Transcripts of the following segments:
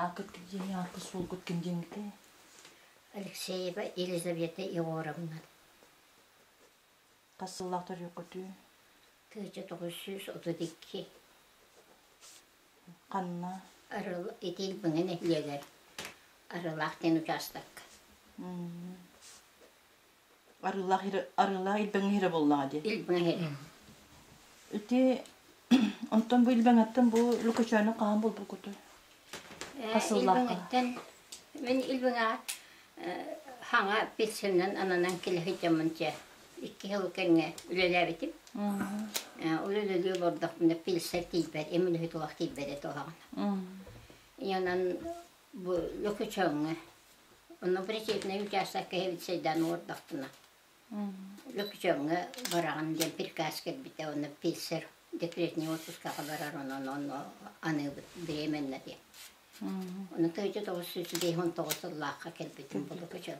Ааккыт ким диэни, ааккыт суолгут ким диэҥҥитий? Алексеева Елизавета Егоровна. Хас сыллаах төрүөккүтүй? Тыыча тоҕус сүүс отут икки. Ханна? Арыл итил Быҥа нэһилиэгэр Арылаах диэн учаастакка. Арыылаах иһирэ, арыылаах илбэҥ иһирэ буоллаҕа дии. Илбэҥ иһирэ. Ити онтон бу илбэҥэттэн бу Лукачааны хаһан булбуккутуй? Хасыллаахха. Мин илбэҥэ хаҥа пенсионнан ананан келе сылдьаммын дьэ икки сыл кэннэ үлэлээбитим. Үлэлэли олордохпуна пенсия тиийбэт, эмин үһү туох тиийбэт этэ оһаҕын. Янан Бу Лөкүчөҥҥө онно причетный участок кэһэбит сайдаан олордохтуна Лөкүчөҥҥө бараҕын диэн приказ кэлбитэ уонна писарь декретнай отпускаҕа барар онон ону аныыбыт беременна диэн. Ону тыйыта тоҕус сүүс биэс он тоҕус сыллаахха кэлбитим бу Лөкүчөҥ.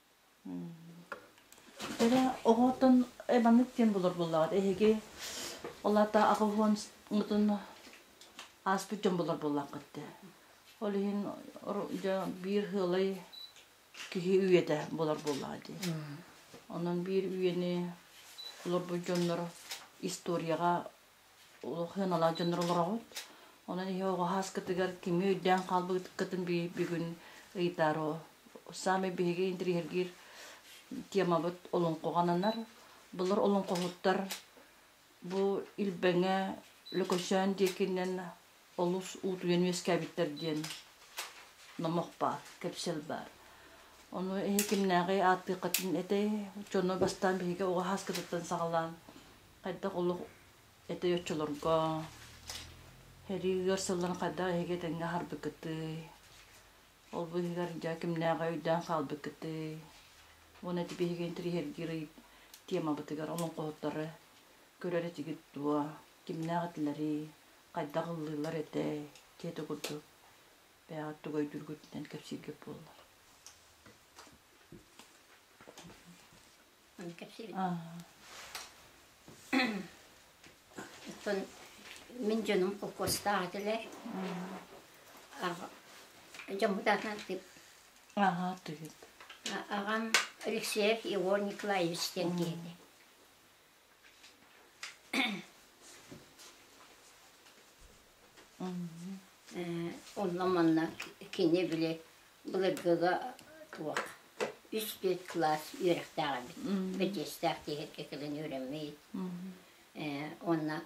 Кэрэ оҕотун эбанык диэн булар буоллаҕыт эһиги ол аата аҕыһыан мутун ааспыт дьон булар буоллаххыт дии. Ол иһин дьэ биир ыалай киһи үйэтэ булар буоллаҕа дии. Онон биир үйэни олорбут дьоннор историяҕа Олохуйан олоот дьоннор олороҕут. Онон иһи оҕо сааскытыгар кими өйдөөн хаалбыккытын бүгүн ыйытаары саамай биһиги интириэһиргиир темабыт олоҥхоҕананар. Былыр олоҥхоһуттар бу Илбэҥэ Лөкөчөөн диэкинэн олус уутуйан үөскээбиттэр диэн номох баар, кэпсэл баар. Ону иһитиннээҕи ааттыаххытын этэй, дьону бастаан биһиги оҕо хааскытыттан саҕалаан хайдах олох этэй оччолорго, сэрии ыар сылларын хайдах эһиги этэҥҥэ аһарбыккытый, ол бу иһигэр дьэ кимнээҕи өйдөөн хаалбыккытый, уонна ити биһиги интриһиргиир темабытыгар олоҥхоһуттары көрөр этигит дуо, кимнээх этилэрий, хайдах ыллыыллар этэй дьиэтэ курдук бэйэҕит тугайдыыргытынан кэпсииргит буоллар кэпсиибит оттон мин дьонум холкуостаах этилэр дьоммут аатынан тыып аhaa тыйыт аҕам Алексеев Егор Николаевич диэн киһитэ Онно-манна кини били былыргыга туох үс-түөрт кылаас үөрэхтээх эбит. Бэдьиэстээх тиэхэркэ кэлэн үөрэммит. Уонна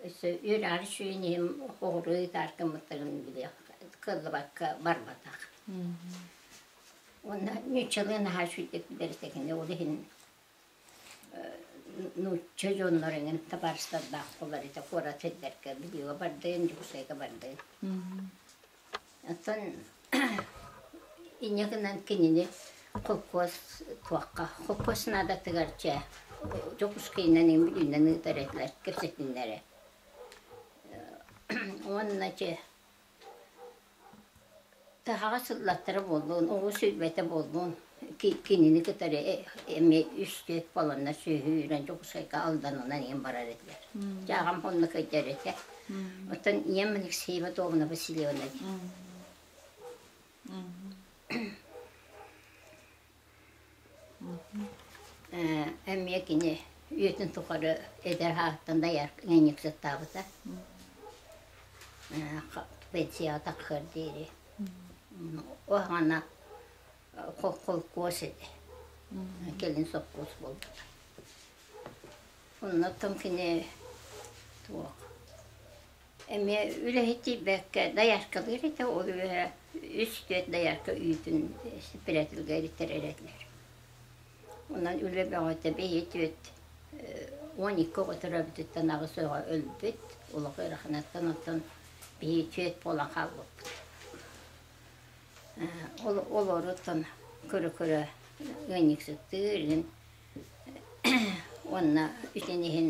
өссө үөрэҕэр сүрүн иһин хоһуруу ыйытар гыммыттарын били кыллыбакка барбатах. Уонна нууччалыы наһаа үчүгдүк бэритэ кини ол иһин нуучча дьоннор эҥин табаарыстардаах буолар ити куорат сирдэргэ видеоҕа бардыын Дьокуускайга бардыын оттон инньэ гынан кинини холкуос туохха холкуос наадатыгар чэ Дьокуускайынан ин бүлүүнэн ыытар этилэр кэпсэтиннэрэ уонна чэ Сахаҕа сыллаттара буоллун, оҕо сүлбэтэ буоллун, кинини кытары эмиэ үстүөт буоланнар сүөһү үүрэн Дьокуускайга алданынан ийэм барар этилэр. Дьэ аҕам онно кэлдэр этэ. Оттон ийэм Алексеева Добна Васильевна диэн. эмиэ кини үйэтин тухары эдэр аатыттан доярка ыанньыксыттаабыта пенсияҕа тахсыар диэри уһаҕана холкуос ити кэлин сопхуос буолбута оннуттан кини туох эмиэ үлэһитийбэккэ дояркалыыр этэ ол үөһэ үс-түөрт доярка үүтүн сеппредателга эритэрэр этилэр онон үлэ бөҕөтө биһи-түөрт уон икки оҕо төрөөбүтүттэн аҕыс оҕо өлбүт олох ыараханыттан оттон биһи түөрт буолан хаалбыппыт олоруттан көрө-көрө ыанньыксыттыыр иһин уонна итин иһин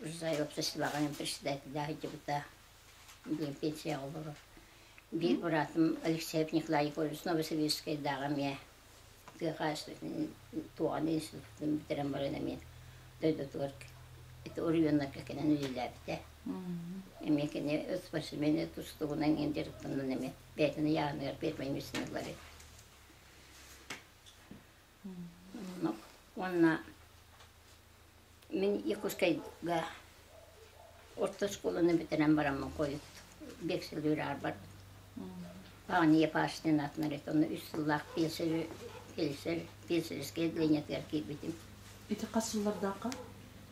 Узай обществоҕа председателэ сылдьыбыта. Диэн пенсияҕа олорор. Биир быраатым Алексей Николай Егорович Новосибирскайдааҕы эмиэ тыа хаһаайыстыбатын туоҕан институтун бүтэрэн баран эмиэ дойдутугар ити оройуоннарга кэлэн үлэлээбитэ. Эмиэ кини спортсмены тустугунан иһин дьарыктанан эмиэ бэйэтин ыйааҕыныгар пермай медсыналар эбит. уонна мин Якутскайга орто оскуоланы бүтэрэн бараммын хойут биэс сыл үөраарбар Паня Пашнин аатынан эт онно үс сыллаах писарь писарь писареское отделениетыгар киирбитим. Ити хас сыллардаахха?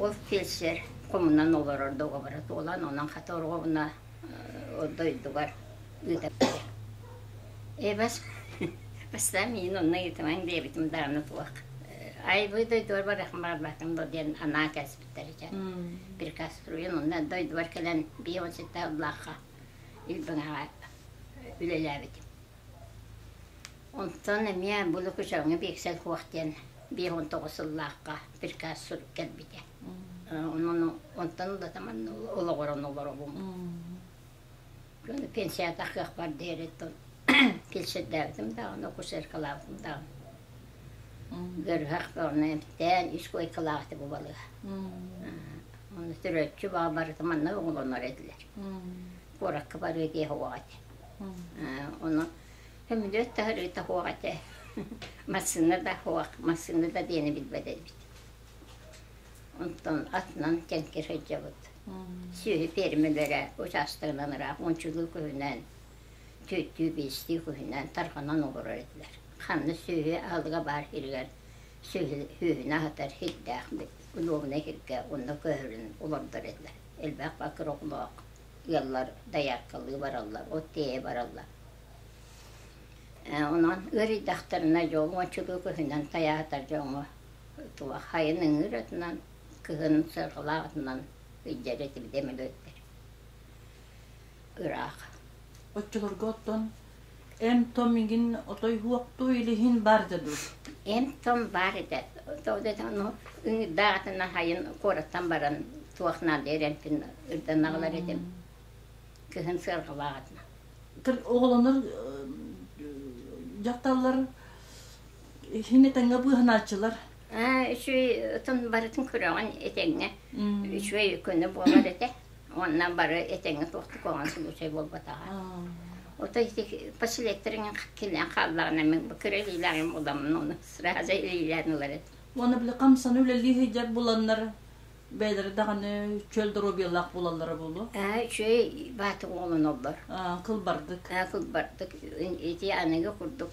Ол фельдшер хомунан олорор договора туолан, онон хата оруобуна дойдугар ыытарбыт. Эбэс бастаан миин онно ыытымаҥ диэбитим даҕаны туох айбыы дойдугар барыахым барбатым дуо диэн анаа кэлбиттэр ичен прикаструйун онно дойдубар кэлэн биир уончатта ыллаахха илбиҥэҕэ үлэлээбитим Онтон эмиэ бу Лукичевҥа биэксэл суох диэн биир уон тоҕус сыллаахха приказ сурук кэлбитэ. Онон онтон ылата манна олоҕуран олоробун. Аны пенсията кыахпар диэри тон кэпсэтээбитим даҕаны акушеркалаабытым даҕаны ыарыһах ону эмтээн ис куойкалаабыты бубалыа ону төрөөччү баҕа барыта манна оҕолонор этилэр куоракка барыы диэх оҕо эти Ону сөмүлүөт да ырыыта суох этэ. Массыына да суох, массыына да диэни билбэт эбит. Онтон атынан тэнки сылдьабыт. Сүөһү пиэрмэлэрэ учаастагынан ыраах мунчулуу күһүнэн, түөттүү биэстии күһүнэн тарҕанан олорор этилэр. Ханна сүөһү аһылыга баар сиригэр сүөһүнү аһатар сирдээх улуобунай сиргэ онно көһөрөн олордор этилэр. Элбэх бакыр оҕолоох ыаллар дояркалыы бараллар, от тиэйэ бараллар. Онон ыарыйдахтарына дьол уончугу көһүнэн тайаатар дьоҥҥо хайын ыҥыыр атынан, кыһын сырҕалаах атынан ыйдьар этибит эмэлөттөр. Ыраах. Оччолорго оттон Эн-том игин отой-уохтуу илиһин бар да дур Эн-том баар этэ Ол да даҕаны ону ыҥыырдаах айан куораттан баран туох наада эрэнтин ырданаҕылар этим Кыһын сыарҕалааҕытына Оҕолонор дьахталлар иһин этэҥҥэ быыһанааччылар үчүгэй отон барытын көрөҕүн этэҥҥэ үчүгэй көнө буолар этэ уонна бары этэҥҥэ туохтук оҕон субучай буолбатаҕа ото ити поселектэрин кинилээн хааллаҕына мин бу кыралиилээн буоламын оны сразу илиилээн ылар этэ уонна били хамсаны үлэлии сылдьар буланнар бэйэлэрэ даҕаны чөл доруобуйалаах буолаллара буолуо ээ үчүгэй баатыр уолун оллор кылбардык кылбардык ити аныгы курдук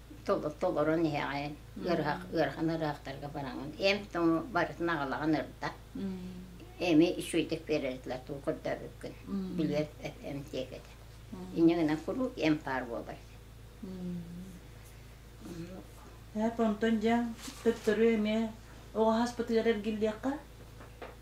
толорон иһэҕин ыарыһах ыарахан ыарыһахтарга бараҥын эм тоҥу барытын аҕалаҕын ырда эми үчүгэйдик биэрэллэр туу көрдөрбүккүн билиэр эм тиэк этэ инньэ гынан куруук эм паар буолар ээп онтон дьэ төттөрү эмиэ оҕо хаспытыгар эргиллиэххэ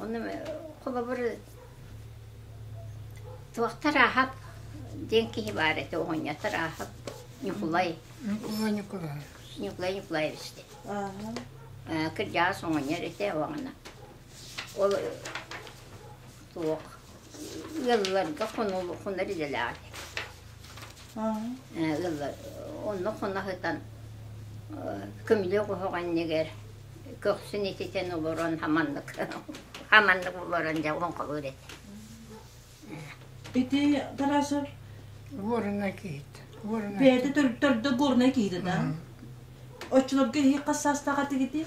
Оны холобур туохтар ааһап диэн киһи баар этэ оҕонньотор ааһап Ньукулай. Ньукулай Ньукулай. Ньукулай Ньукулаевич дэ. Э, кырдьаҕас оҕонньор этэ оҕана. Ол туох ыалларга хонор идэлээх ыаллар онно хонаһытан көмүлүөк оһоҕонньыгар көхсүн ититэн олорон хаманнык хаманнык олорон дьэ оҥхолуур этэ ити Тарасов Горнай киһит бэйэтэ төрдө Горнай киһитэ да оччолорго иһи хас саастаах этигити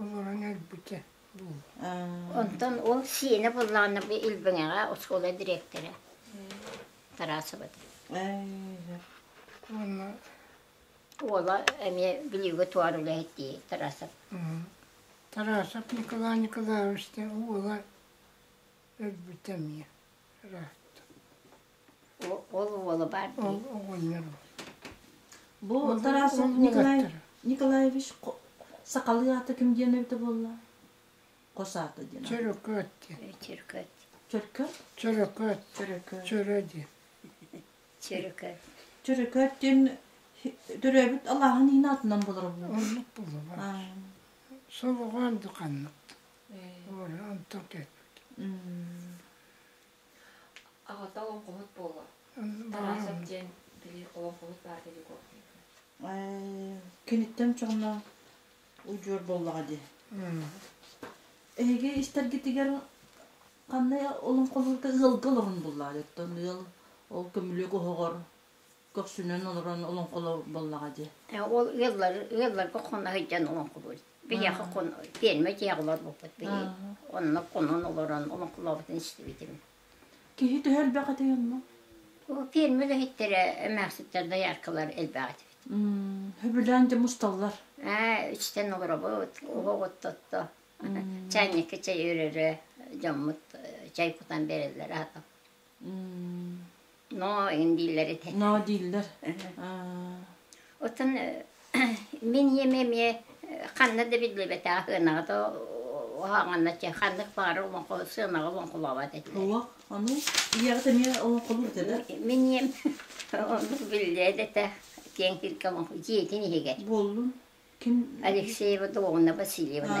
олорон өлбүтэ буолла. Онтон ол сиэнэ буоллаҕына бу Илбэҥэҕэ оскуола дириэктэрэ Тарасова Уонна уола эмиэ Бүлүүгэ туор үлэһит дии Тарасов. Тарасов Николай Николаевич уола өлбүтэ эмиэ ыраатта. Ол уола баар дии. Оҕонньорум. Бу Тарас Николай Николаевич сахалыы аата ким диэн эбитэ буолла? Хос аата диэн. Чөрөкөөт диэн. Чөрөкөөт. Чөркөөт? Чөрөкөөт. Чөрөкөөт. Чөрө диэн. Чөрөкөөт. Чөрөкөөт диэн төрөөбүт алааһын иһин аатынан болоро буолла. Оннук буолла. Солоҕоон духаннык. Оля онтон кэлбит. Аҕата олоҥхоһут буолла. Тарасов диэн били олоҥхоһут баар деликов Киниттэн чоҕуна удьуор буоллаҕа дии. Эһиги истэргитигэр ханна олоҥхоһута ыалга олорон буллаҕа дьоттон ыал ол көмүлүөк оһоҕор көхсүнэн олорон олоҥхоло буоллаҕа дии. Ол ыаллар ыалларга хонна сылдьан олоҥхолуур. Биһиэхэ кун пиэрмэ тиһэх олорбуппут биһиги. Онно кунун олорон омоклообутун истибитим. Киһи төһө элбэх этэй онно? Бу пиэрмэ үлэһиттэрэ эмээхситтэр дояркалар элбэх этибит. Хөбүлээн дьэ мусталлар. Аа, үстэн олоробут, уһугут тотто. Чайникка чай өрөрө, дьоммут чай кутан берэллэр аата. но иһин дииллэр ити ноо дииллэр отон мин еме ме ханна да биллибэте ахынаҕа то уһаанганна че ханнык баары оҥко сыанаҕа оҥкулаабат этилэр уох аны ийэҕит эмиэ оҥкулур дада мин ем ону биллээ дэтэ киэн кирке оҥко дьиэтин иһигэр буоллун ким алексеева долговна васильевна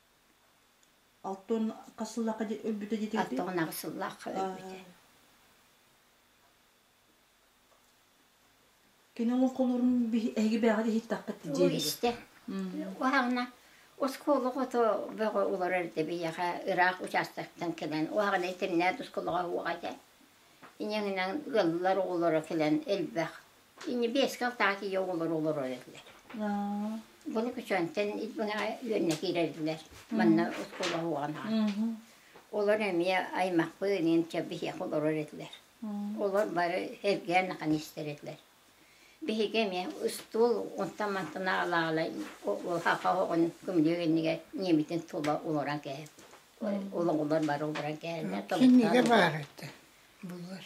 Алтан хас сыллаахха өлбүтэ диэтигитий? Аттыгынаах сыллаах өлбүтэ. Кини оҥон холуурун эһиги бэҕэҕит иһиттаххыт Уу диэбит. истэ. Уһаҕана оскуола ото бөҕө олорор да биһиэхэ ыраах учаастактан кэлэн уһаҕана итиннээт оскуолаҕа уоҕа этэ. Инэҥинэн ыаллар оҕолоро кэлэн элбэх Инньэ биэс кыл таах тиийэ оҕолор олоро эрэллэр. Bunu күчүөнтэн үөннэ киирэллэр. Манна оскуола уоҕан аҕа. Олор эмиэ аймахпын иним чэ биһиэхэ олорор этилэр. Олор бары эргээн нахан истэр этилэр. Биһиги эмиэ ыстуол онтон мантана алаала хаха оҕон көмүлүө иннигэр ниэмитин тула олорон кээбит. Олоҕулар бары олорон кээһэллэр. Кинигэ баар этэ. Буллар.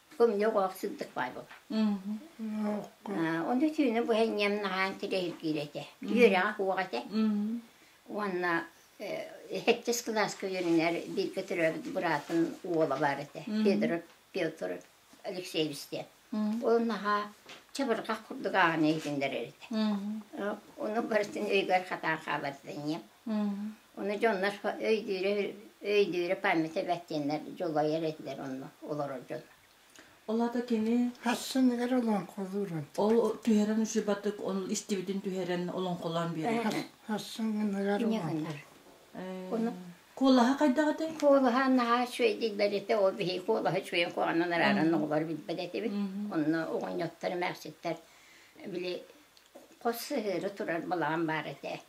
Тука мне оҕоох сырдык баабыл. Оны түүнү бу хэнньэм наһаан тилэһир киирэтэ. Үөрэҕэ куоҕата. Уонна хэттес кылааска үөрүнэр бииргэ төрөөбүт быраатын уола бар этэ. Педро Петр Алексеевичтен. Ол наһаа чабырҕах курдук ааҕаны иһиннэр этэ. Ону барытын өйгөр хатаан хаалар Ону дьоннор өйдүүрэ өйдүүрэ память эбэт диэннэр дьулайар этилэр онно олорор дьон. Ол аата кини Хассыныгар олоҥхолуурун. Ол түһэрэн учурбатык он истибитин түһэрэн олоҥхолоон биэрэр. Хассыныгар олоҥхо. Ону куолаһа хайдаҕытый? Куолаһа наһаа үчүгэйдик бэритэ ол биһи куолаһа үчүгэн куоҕанан араарын оҕолор билбэт этибит. Онно оҕонньоттор эмээхситтэр били хос сыһыары турар балаҕан баар этэ.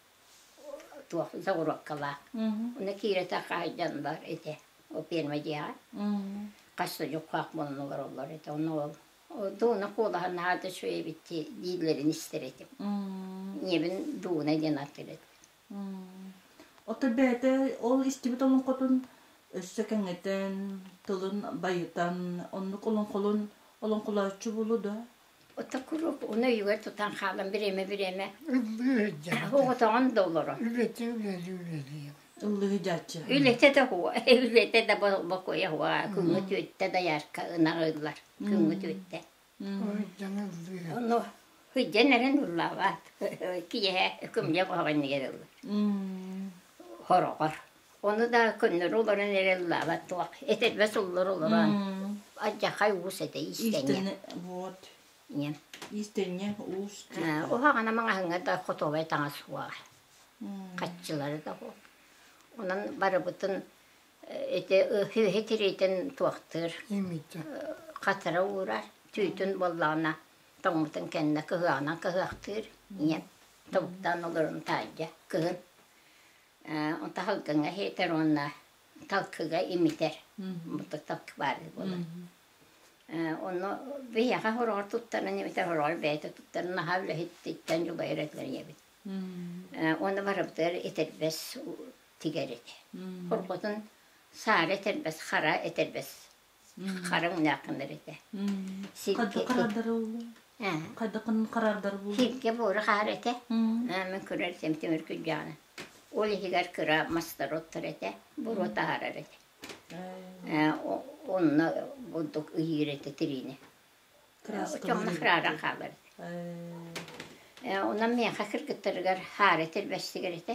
туох завороткалаах уна киирэтэ хаайдан бар ити ол пиэрмэ дьиэҕэ хас да дьукаах мунна олороллор ити онно ол дууна куолаһа наада үчүгэй эбит дииллэрин истэр этим ийэбин дууна диэн атыыр этим ото бэйэтэ ол истибит олоҥхотун өссө кэҥэтэн тылын байытан оннук олоҥхолун олоҥхолооччу булу да Ото куруук уну өйүгэр тутан хаалан бириэмэ-бириэмэ оҕотоҕун да олоро. Үлэтэ үлэлии үлэлии. Үллэһидээччи. Үлэтэ да хуо, үлэтэ да бокуйа хуо, күҥҥү түөттэ доярка ынаҕыыллар, күҥҥү түөттэ. Ону хыдьан эрэн ыллаабаат, киэһэ күмньэ хоһоҕоннигэр ыллар. Хороҕор. Ону да көннөрү олорон эрэ ыллаабат туох, этэрбэс оллор олорон, адьахай уус этэ истэнньэ. Истэнньэ, вот. Ийэм. Истэнньэ уус диэтэ. Уһаҕана маҥаһыҥҥа да хотуобай таҥас суох. Хаччылары да суох. Онон барыбытын ити үөһэ тириитин туохтуур. Хатара уурар, түүтүн буоллаҕына тоҥмутун кэннэ кыһыаҕынан кыһыахтыыр. Ийэм тобуктаан олорон таайдьа кыһын. Таһылгыҥа иһитэр уонна талкыга имитэр. Бурдук талкы баарга буолар. Онно биһиэхэ хороҕор туттаран эбитэр, хороҕор бэйэтэ туттаран наһаа үлэһититтэн дьулайар этилэрийэбит. Уонна барыбытыгар этэрбэс тигэрит. Хорҕотун саары этэрбэс, хара этэрбэс хараҥ ньаакынар этэ хайдаххарардары буллуҥ сиргэ буора хаар этэ мин көрөрсөм тимир күрдьэҕинэ ол иһигэр кыра мастороттор этэ буруо таһаарар этэ онно бурдук ыйыыр этэ тириини Чоҥнох раадан хаалар. Онон миэхэ кыргыттарыгар хаары тирбэстигэр этэ.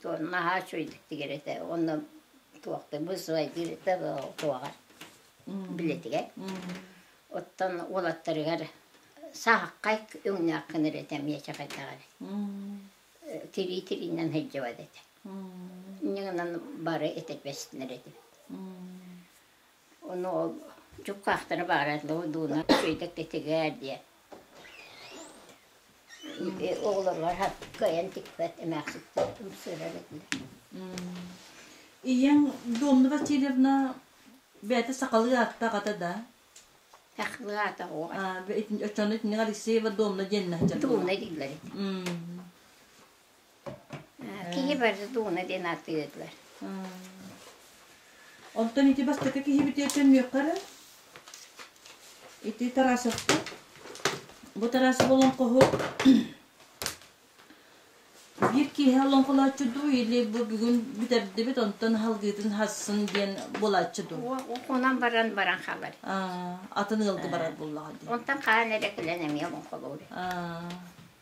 Туох наһаа үчүгэйдик тигэр этэ. Онно туохтабыс зайдир это туоҕа билетигэр. Оттон уолаттарыгар сааххай өҥнөөх гынар этэ миэчэкэйдэҕэр. Тирии тириинэн сылдьыбат этэ. Иннигинэн бары этэрбэстинэр этим. Ону ол дьуккаахтара баара дуунар үчүгэйдик титигээр диэн оҕолоругар кыайан тикпэт эмээхситтэр ымсыырар этилэр ийэҥ Домнова Васильевна бэйэтэ сахалыы ааттаах ата да сахалыы аата оччону итинник Алексеева Домна диэннээх дьонно дуулла диллэр Киһибэр Зуна диэн атыытыгар. Онтон ити бастакы киһибит төннүөххэ эрэ. Ити Тарасовтар. Бу Тарасов олоҥхоһу биир киэһэ олоҥхолооччу дуу, или бу бүгүн бүтэрдибит, онтон аһылгыытын хассын диэн буолааччы дуу? Онон баран баран хабар. Атын ыалга барар буоллаҕа дии. Онтон хаан эрэ күлэн эмиэ олоҥхолуур.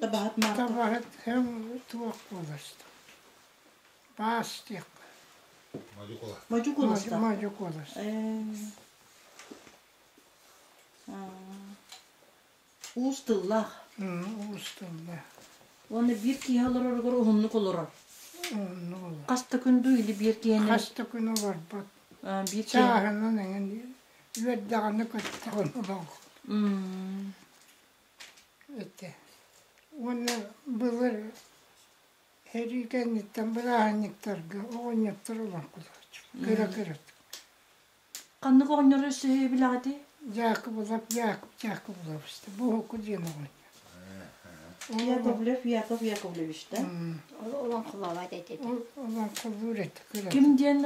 табаһыт марта табаһыт кэм туох буоласта баас диэхпэ мадьукула мадьукуласта мадьукуласта уус тыллах уус тыллах уонна биир киһи олороругар уһуннук олорор хаста күндү или биир киһини хаста күн олорбот биир чааһынан эҥин үөрдэҕинэ көттөҕүн олоҕу этэ уонна былыр сэрии кэнниттэн бырааһынньыктарга оҕонньоттор ылан кутааччыбыт кыра кыра ханнык оҕонньор өссө билэҕитий дьаакыбылап Яакып Дьаакыбылабыс буһуку диэн оҕонньор яковлев яков яковлевич да олоҥхолообот этэ олоҥхолуур этэ ким диэн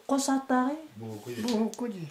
хос ааттааҕый буһуку дии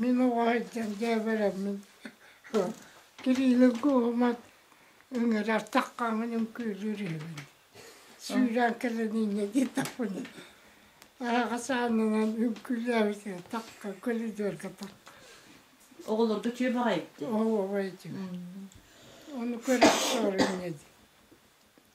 Мин оҕо сылдьан дьээбэлэммин тириилэргэ уһумат ыҥыра артаххаҥҥын үҥкүүлүүр үһүбүн сүүрээн кэлэн инньэ диэтэхпинэ аахасаанынан үҥкүүлээбитин такка көлүдүөргэ такка оҕолорго чүө баҕайы дии оҕо баҕайы дии ону көрө сорунньа дии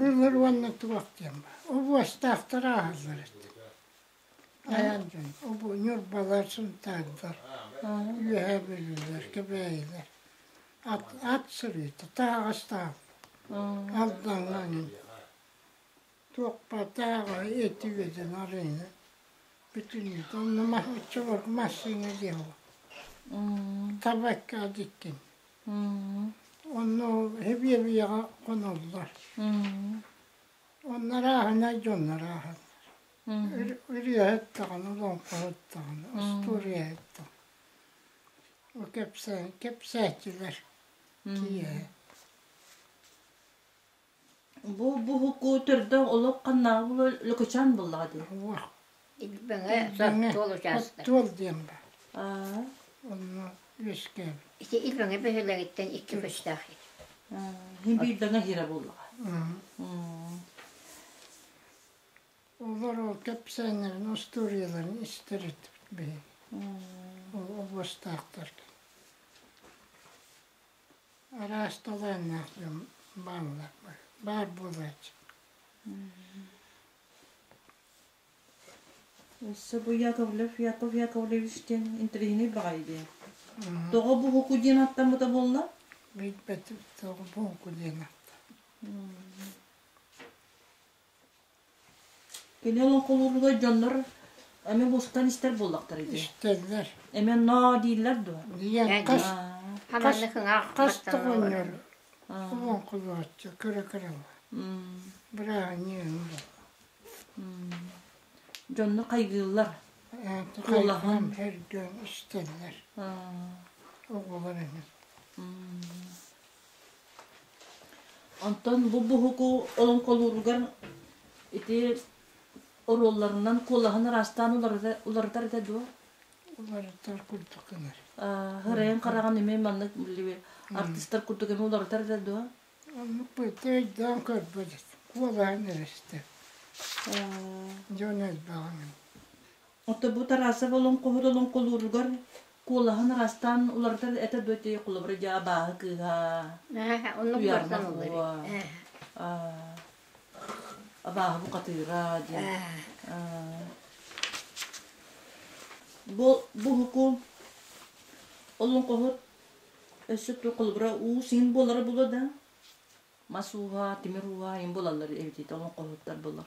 Былыр уонна туох диэн обуостаахтар ааһаллар эти. Айан дьон обу ньурбалар, сунтаардар үөһэ бүрүллэр, кэбээйилэр. Ат ат сырыыта таһаҕастаах алдаҥаҥын туохпа тааҕа эти үөдэн арыйна бүтүннүүт онно массыына диэҕэ табакка диккин Онно эбиэбийэҕэ хоноллор. Оннору ааһына дьоннору ааһаллар. Үрүөһэт-таҕына, лоҥхоһыт-таҕына, остуоруйаһыт-таҕына. О кэпсээ, кэпсээтилэр киэһэ. Бу буһуку төрдөг олох ханнааҕы булан лөкөчөөн буллаҕа дии. Уох. Бэҥэ туол учаастак. Туол диэн ба. Аа. Онно үөскээн. Ити ил бэҥэ бөһүлэҥиттэн икки көстөөх ит. Хин биирдэнэ хире буллаҕа. Олор ол кэпсээннэрин устуоруйаларын истэрит биһи. Ол областаахтар. Араас талааннаах дьон бааллар баар буолааччы Сабуя Ковлев Яков Яковлевич диэн интэриэһинэй баҕайы диэн. Тоҕо буһуку диэн аттаммыта буолла? Билбэтим тоҕо буһуку диэн атта. Кини олоҥхолууллар дьоннор эми бустан истэр буоллахтар ити. Истэллэр. Эми ноо дииллэр дуо? Диэн хас хас тугуннар олоҥхолооччу көрө-көрө Бырааһынньыын. Дьонно хайгыыллар. Куолаһын. Эргэн истэллэр. Оҕоларын. Онтон бу буһуку олоҥхолууругар ити оруолларынан куолаһын ыраастаан уларыта уларытар этэ дуо? Уларытар курдук гынар. Һырайан хараҕын эмиэ маннык билиби артыстар курдук эмиэ уларытар этэ дуо? Оннук быйты өйдөөн көрбөт. Куолаһын эрэстэ. Дьон элбэҕин. Отобу Тарасов олоҥхоһут олоҥхолууругар куолаһын араастаан уларытар этэ-бөтө холобура дьэ абааһы кыыһа Уйаармах буо абааһы букатыыра диэн бу буһуку олоҥхоһут өссө ту холобура уу син буолара було да мас ууһа тимир ууһа им булаллар эбитиит олоҥхоһуттар булар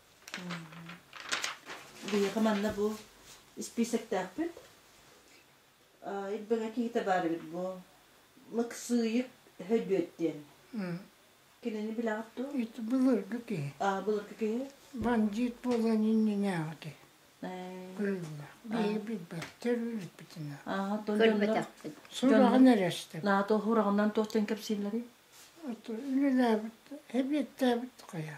Биһиэхэ манна бу испиисэктээхпит. Ирбэҥэ киһитэ баар эбит бу Лыксыйык Хөдүөт диэн. Кинини билэҕит дуу? Ити былыргы киһи. Аа, былыргы киһи? Бандьыыт буолан иннинээҕити. Кыылла. Биһи билбэттэр өлбүтүнэ. Аа, көрбөтөхпүт. Сураҕын эрэстим. Наата уһураҕынан туох диэн кэпсииллэрий? Үлэлээбит, эбиэттээбит хайа.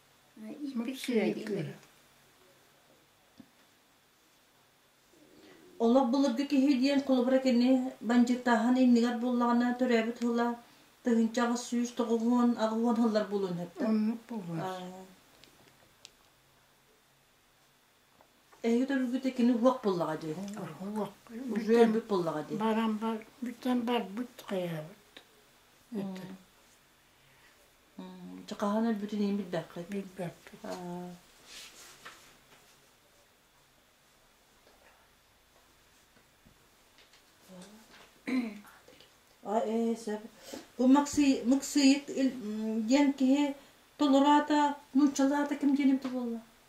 Олох былыргы киһи диэн холобура кини бандьыктааһын иннигэр буоллаҕына төрөөбүт тыла тыһыынча аҕыс сүүс тоҕуһуон аҕыһуон сыллар буолуон сөптө. Оннук буолуо. Эһиги төрүгүтэ кини уһук буллаҕа дии. Уһук. Уже өлбүт буллаҕа дии. Баран барбыттан барбыт хайаабыт. Чэ, хаһан өлбүтүн иһин билбэккит. Билбэппит. Ээ, сөп. Бу Максый, Максыйык диэн киһи толороото, нууччалаата ким диэн эбитэ буолла?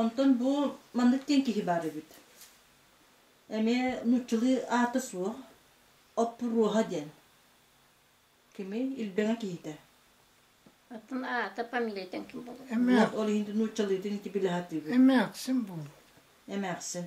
Онтон бу маннык диэн киһи баар эбит. Эмиэ нууччалыы аата суох, оппуруоха диэн. Кими илбэҥэ киһитэ. Оттон аата фамилиятын ким булуой? Эмээх. Ол иһин нууччалыытын ити билэ сатыыбыт. Эмээхсин бу. Эмээхсин.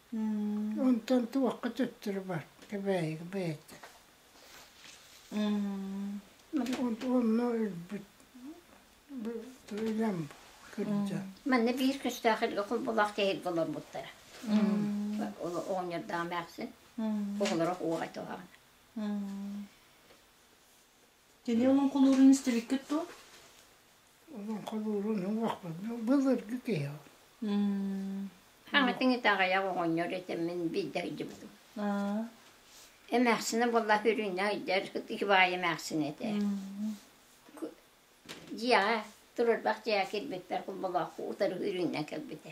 Онтон туохха төттөрү бар Кэбээйигэ бэйэтэ. Онно өлбүт илэм кырдьан. Манна биир көстөөх илгэ кулбулаах тиэһит олорбуттара. Оҕонньордоох эмээхсин. Оҕолоро уоҕай туһаҕына. Кини олоҥхолуурун истибиккит ту? Олоҥхолуурун олохпун былыргы киһи. Хаҥатыҥ итэҕэйэх оҕонньор этэммин биирдэ өйдүбүтүм. Эмээхсинэ буолла үрүнэ өйдөр Ивай эмээхсин этэ. Дьиэҕэ турарбах дьиэҕэ кирбиппэр кулбалааху утары үрүннэн кэлбитэ.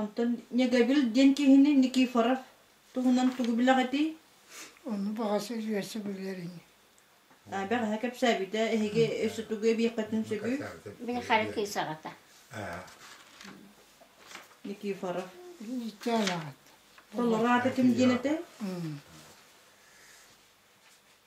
Онтон Ньэгэбил диэн киһини Никифоров туһунан тугу билэҕитий? Ону баҕас үөрсэ билэрин. Бэҕэһээ кэпсээбитэ эһиги өссө тугу эбиэххитин сөбүй? Мин хара кыысаҕата. Никифоров. Толору аатытым диэн этэ.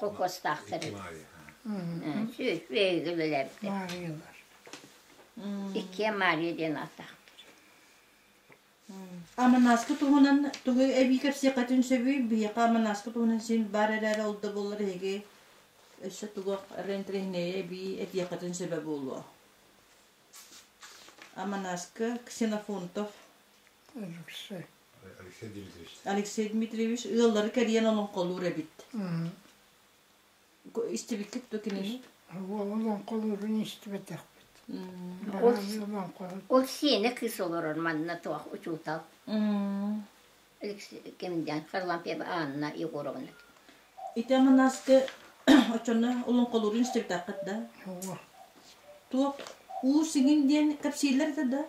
кокуостаахтарын сүүс биһиги билэрбит Мариялар. Иккиэ Мария диэн ааттаахтар. Аманааска туһунан тугу эбии кэпсиэххитин сөбүй? Биһиэхэ Аманааска туһунан син баар эрээри ол да буоллар эһиги өссө тугу рентреҥнэйэ эбии этиэххитин сөбө буолуо. Аманааска Ксенофонтов Алексей Дмитриевич. Алексей Дмитриевич ыаллары кэрийэн олоҥхолуур эбит. Истибиккит да кинини? Ол олоҥхолуурун истибэтэхпит. Ол сиэнэ кыыс олорор манна туох учуутал. Алексей Кемдян, Харлампьева Анна Егоровна. Ите манасты очонно олоҥхолуурун истибэтэхпит да? Туох уу сигин диэн кэпсииллэр да да?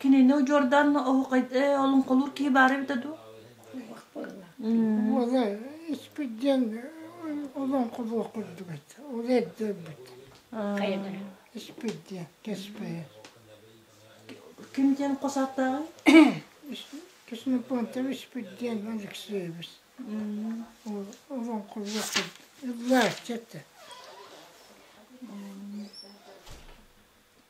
Кинини удьуордаан оһуохай олоҥхолуур киһи баара эбитэ дуу? Уола испит диэн олоҥхолуох курдук этэ. Ол эрдэрбит. Испит диэн кэспэйэ. Ким диэн хос ааттааҕый? Ксенофонтов испит диэн Алексеевич. Олоҥхолуох курдук. Ыллаачча этэ.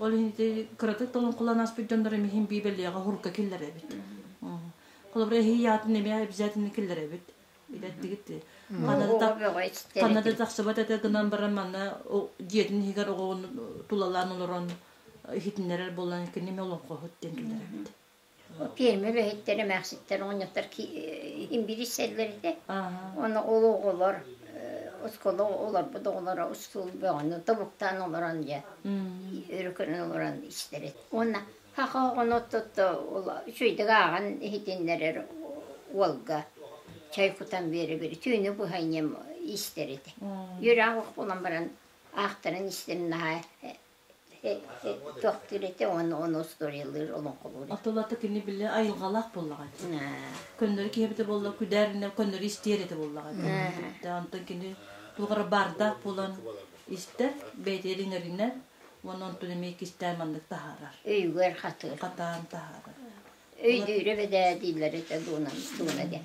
Ол иһин кыратык толонкулан аспыт дьоннор эмиһин биибелиэҕэ хурка киллэрэбит. Холобура эһии аатын эмиэ обязательно киллэрэбит. Билэттигит. Канада тахсыбат этэ гынан баран манна дьиэтин иһигэр оҕоҕун тулалаан олорон иһитиннэрэр болан кинини олоҥхоһут диэн киллэрэбит. Ол пиэрмэ үлэһиттэр эмээхситтэр оҕонньоттор имбирисэллэр этэ. Уонна ол оҕолор оскуола олорбут оҕолоро устул бөҕөнү тобуктаан олорон дьэ өрө көрөн олорон истэр эт. Уонна хах оҕону оттотто ол үчүгэйдик ааҕан иһитиннэрэр уолга чай кутан биэрэбир түүнү быһа ийэм истэр этэ. Үөрэх буолан баран аахтаран истэн наһаа тохтуурите уонна оны устуориялыыр олоҥхолуур атылата кини били айылҕалаах буоллаҕа көннөрү киһи эбитэ буолла күдээринэ көннөрү истиэр этэ буоллаҕа онтон кини туоҕара баардаах буолан истэр бэйэтигэр иҥэринэр уонна онтон эмиэ кистээн маннык таһаарар өйүгэр хатыыр хатаан таһаарар өйдүүрэ бэдээ дииллэр этэ дуунан дууна гэн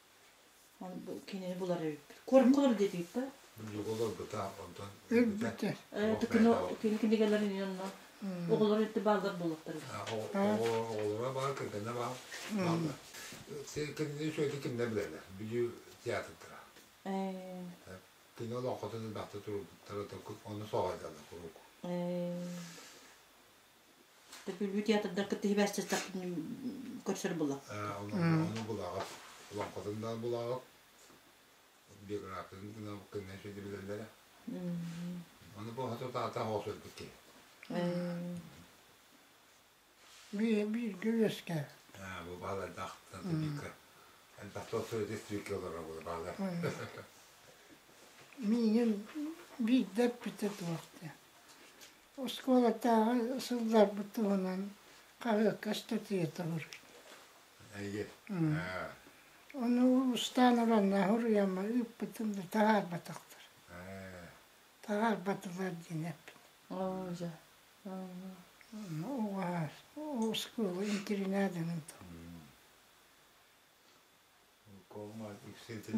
Бу кинини булар эбиппит. Кормголор диэтик да. Өлбүтэ. Өлбүтэ. Кино кинигэлэрин инно оҕолор өттө бааллар боллоттар. Оҕолоро баар, кэргэннэ баар. Бааллар. Кинини сөйді кимне білелер? Бүдүү театрдара. Кино олоххото бахта турбуттара, оны соғайдалар куруук. Төпүлбү театрдар кытта сыстахпын көрсөр була. Оны булаҕыт, лоҥхотун да булаҕыт, биографиятын гына көннө сөйдө билэллэрэ. Оны бу хату таата хоос өлбүт киһи. Бииргэ үөскэ. Бу баалар тахта типика. Тахта сөйдө типика олора була баалар. Миигин биирдэ эппитэ туохта. Оскуолатааҕы сылларбыт туһунан хаһыакка ыстатыйа толоруй. Эйгэ. Ону устаан ыланна суруйамма ыыппытым да таһаарбатахтар. Таһаарбатылар диэн эппит. Олдо. Оскуола интернатынан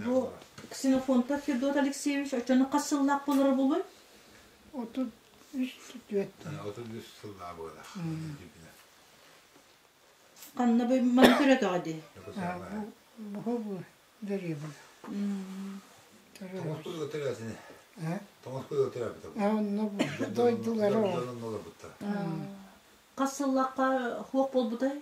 Бу Ксенофонтов Федот Алексеевич очону хас сыллаах болоро булуй? Отут үс түөрт. Отут үс сыллаа буола. Ханна бу маны көрөтөҕө ди? Бу бу бери бу. Тоңос бу өтөрө сине. Тоңос бу өтөрө бу. А онно бу дойдулары. Хас сыллаахка хуох болбутай?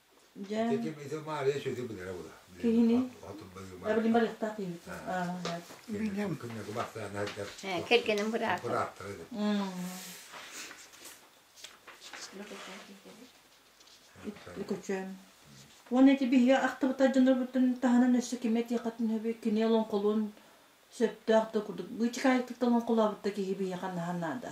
Дьэ. Ити ити Маарыйа сөтө билэрэ була. Киһини? Барбын барыахтаах диин. Кэргэним күннэ кубахтаан ардар. Кэргэним быраата. Бырааптара деп. Үкөчөм. Уонна ити биһиги ахтыбыта дьонорбуттан таһынан өссө киме тиэхэтин хөбү кини олоҥхолуун сөптөөх да курдук быычыкаайыктык да олоҥхолообутта киһи биһиэхэ наһан наада.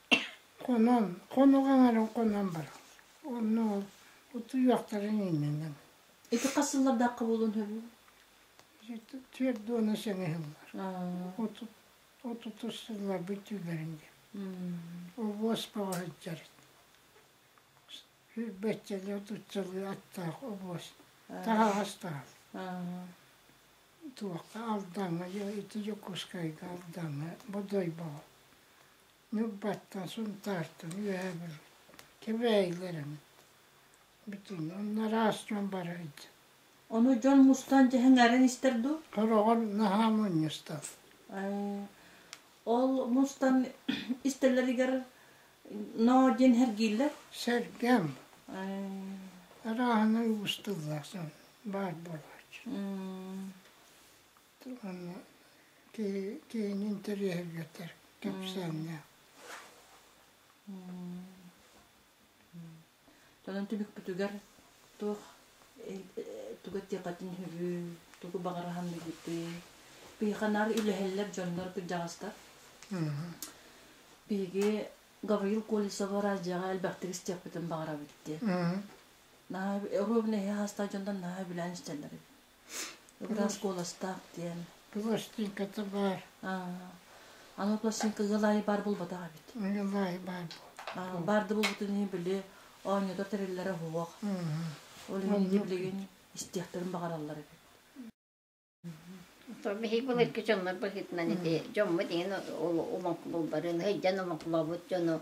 Хонон, хонук аҥарын хонон баран, онно ол утуйуохтарын иннинэн. Ити хас сыллардаахха буолуон сөбүй? Түөрт уона сэнэ сыллар. Отут отутус сылларбыт түүлэрин диэн. Обуос бөҕө сылдьар. Сүүрбэччэлии отутчалыы аттаах обуос. Таһаҕас таһаҕас. Туохха Алдаҥҥа, ити Дьокуускайга Алдаҥҥа, Бодой Боҕо. Ньурбаттан, Сунтаартан, үөһэбин Кэбээйилэрин бүтүн онно араас дьон барыйт Ону дьон мустан дьэһэҥээрин истэр дуу? Тороҕор наһаа мунньустар. Ол мустан истэлэригэр ноо диэн сэргииллэр? Сэргэм. Арааһынан уустуллар баар буолааччы. киһини интэриэһиргэтэр кэпсээннээх. Тонон түбүкпүтүгэр туох туга диэхэтин үһү, тугу баҕарахан билбитий? Биһиканар үлэһэллэр дьоннор кырдьаҕастар. Биһиги Гавриил Колесову радиоҕа элбэхтик истиэхпитин баҕарабыт диye. Наһаа оруобуна иһи хаастаах дьонтон наһаа билээн истэллэр. Ыраас куоластаах диэн. Пластинката баар. Аны пластинкага лайы бар булбатах эбит. Мне лайы бар бул. Бар да булбутун иһин били оонньотор тэриллэрэ уһуох. Ол иһин билигин истиэхтерин баҕараллар эбит. Биһиги былыргы дьоннор быһыытынан ити дьоммут иһин умаклуулларын, ыйдан умаклообут дьону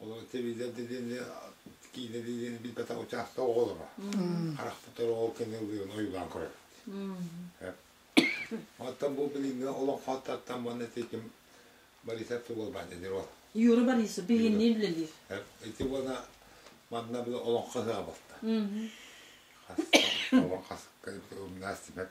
Олору телевизор делиэни, киинэ делиэни билбэтэх учаастак оҕолоро. Харахпытар оҕол кэнэллэрин ойуулаан көрөбүт. Оттон бу билиҥҥи олох хаттаттан манна тэтим Борисов Тулабан эдэр ол. Юра Борисов биһинни үлэлиир. Ити уона манна бу олох хаһыга болта. Олох хасыкка умнаас типеп.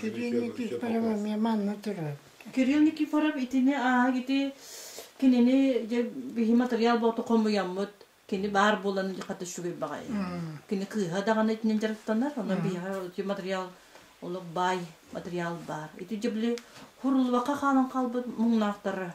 Кирилл Никифоровы манна турар. Кирилл Никифоров итини ааһыгити кинини дьэ биһи материал боото хомуйаммыт кини баар буолан хата шугай баҕай. Кини кыыһа даҕаны итинен дьарыктанар, ону биһиэхэ ити материал олох баай материал баар. Ити дьэ били хурулуака хаалан хаалбыт муҥнаахтара